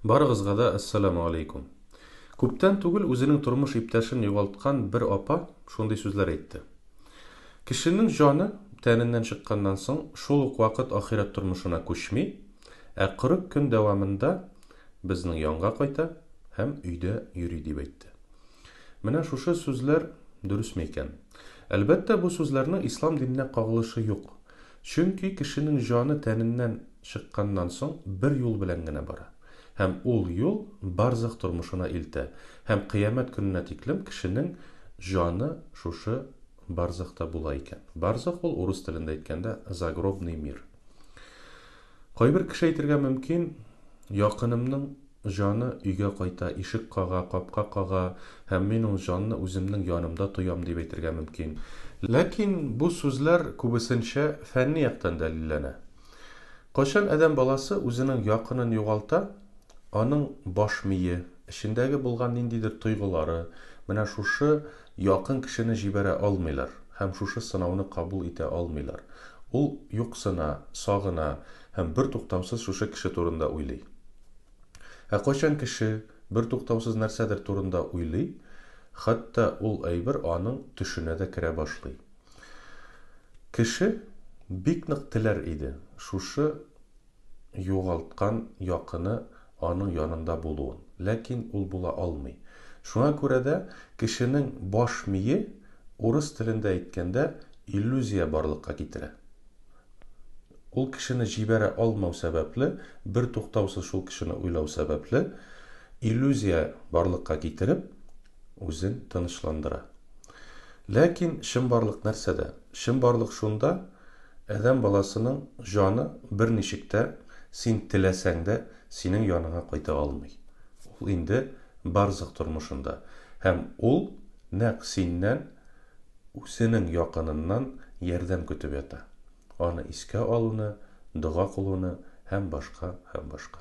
Барыгызга да Әссәламү алейкум. Күптән түгел үзенең тормыш иптәшен югалткан бер апа шундый сүзләр әйтте. Кешенең җаны тәненнән чыкканнан соң шул ук вакыт ахирәт тормышына күчми, ә 40 көн дәвамында безнең янга кайта һәм өйдә йөри дип әйтте. Менә шушы сүзләр дөресме икән? Әлбәттә бу сүзләрнең ислам диненә кагылышы юк. Чөнки кешенең җаны тәненнән чыкканнан соң бер юл белән генә бара. Һәм ул юл барзах тормышына илтә, һәм кыямәт көненә тиклем кешенең җаны шушы барзахта була икән. Барзах ул, урыс телендә әйткәндә, загробный мир. Кайбер кеше әйтергә мөмкин, якынымның җаны өйгә кайта, ишек кага, капка кага, һәм мин ул җанны үземнең янымда тоям, дип әйтергә мөмкин. Ләкин бу сүзләр күбесенчә фәнни яктан дәлилләнә. Кайчан адәм баласы үзенең якынын югалта, аның баш мие, эчендәге булган ниндидер тойгылары, менә шушы якын кешене җибәрә алмыйлар һәм шушы сынауны кабул итә алмыйлар. Ул юксына, сагына һәм бертуктаусыз шушы кеше турында уйлый. Ә кайчан кеше бертуктаусыз нәрсәдер турында уйлый, хәтта ул әйбер аның төшенә дә керә башлый. Кеше бик нык теләр иде шушы югалткан якыны аның янында булуын, ләкин ул була алмый. Шуңа күрә дә кешенең баш мие, урыс телендә әйткәндә, иллюзия барлыкка китерә. Ул кешене җибәрә алмау сәбәпле, бертуктаусыз шул кешене уйлау сәбәпле, иллюзия барлыкка китереп, үзен тынычландыра. Ләкин чынбарлык нәрсәдә? Чынбарлык шунда, адәм баласының җаны берничек тә, син теләсәң дә, синең яныңа кайта алмый. Ул инде барзакъ тормышында. Һәм ул нәкъ синнән, үзенең якыныннан ярдәм көтеп ята. Аны искә алуны, дога кылуны һәм башка, һәм башка.